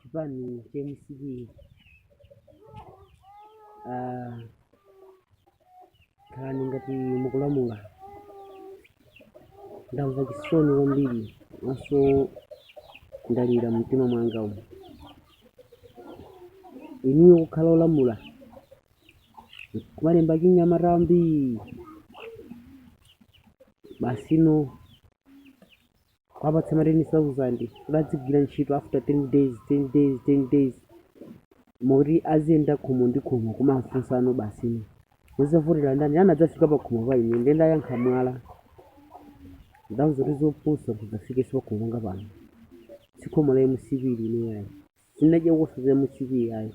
chipani cha mcp ah, kukhala ngati mukulamula ndamva chisoni kwambiri maso ndalira mumtima mwanga umu inuyo kukhala olamula kumalemba achinyamata ambiri basino kuwapatsa ma 10000 kuti adzigwira ntchito after 10 days 10 days 10 days moti aziyenda khomo ndi khomo kumafunsa basino muzavotera ndani ena anadzafika pa khomo pa ine nde ndayankha mwala ndawauza kuti zopusa kudzafikaso pakhomo panga pano sikhomo la mcp ili ine yayi sinadya kusaza mcp yayi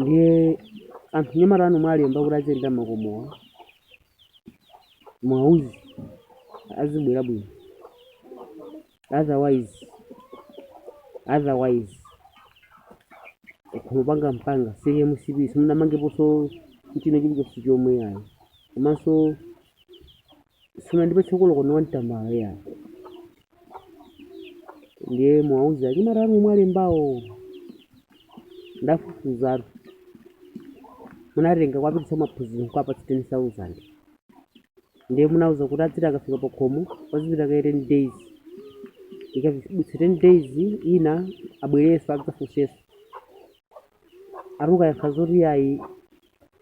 ndiye anyamata anu mwalemba kuti aziyenda makomowa muwauze azibwera bwino otherwise otherwise kumupanga mpanga za mcp simunamangeposo china chilichonse chomwe ayi komanso simunandipatseko olo koini wa tambala yayi ndiye muwauze anyamata anu mwawalembawo ndafufuzatu munatenga kuwapititsa maphunziro kuwapatsa 10000 ndiye munawauza kuti adziti akafika pa khomo azipita kaye 10 days ikadutsa 10 days ina abwereso adzafunseso atukayankha zoti yayi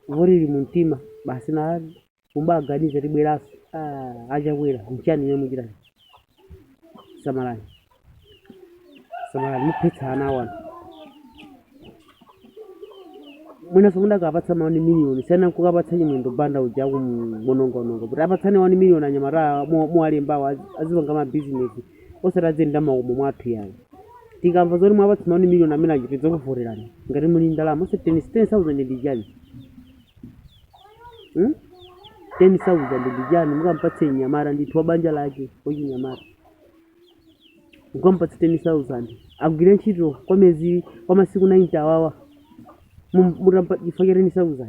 voti ili mumtima basi na kumba aganize tibwereso ah, achakwera mchani imwe mukuchita samalani samalani muphetsa ana anu mwinaso mudakawapatsa mawani miliyoni siyana kukampatsa chimwendo banda uja akumawonongaononga kuti apatsane wani miliyoni anyamata muwalembawo azipanga mabizinesi osati aziyenda makomo mwathu yayi tikamva zoti mwawapatsa mawani miliyoni amene tchiti tidzakuvoterani ngati muli ndalama osati 10,000 ndi chani Hmm? 10,000 ndi chani mukampatse mnyamata ndithu wa banja lake wachinyamata mukampatse 10,000 agwire ntchito kwa mwezi kwa masiku 90 awawa Mum- mutampha chifukwa cha 10,000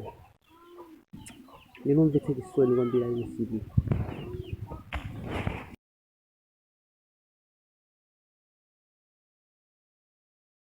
ndi zomvetsa chisoni kwambiri ayi mcp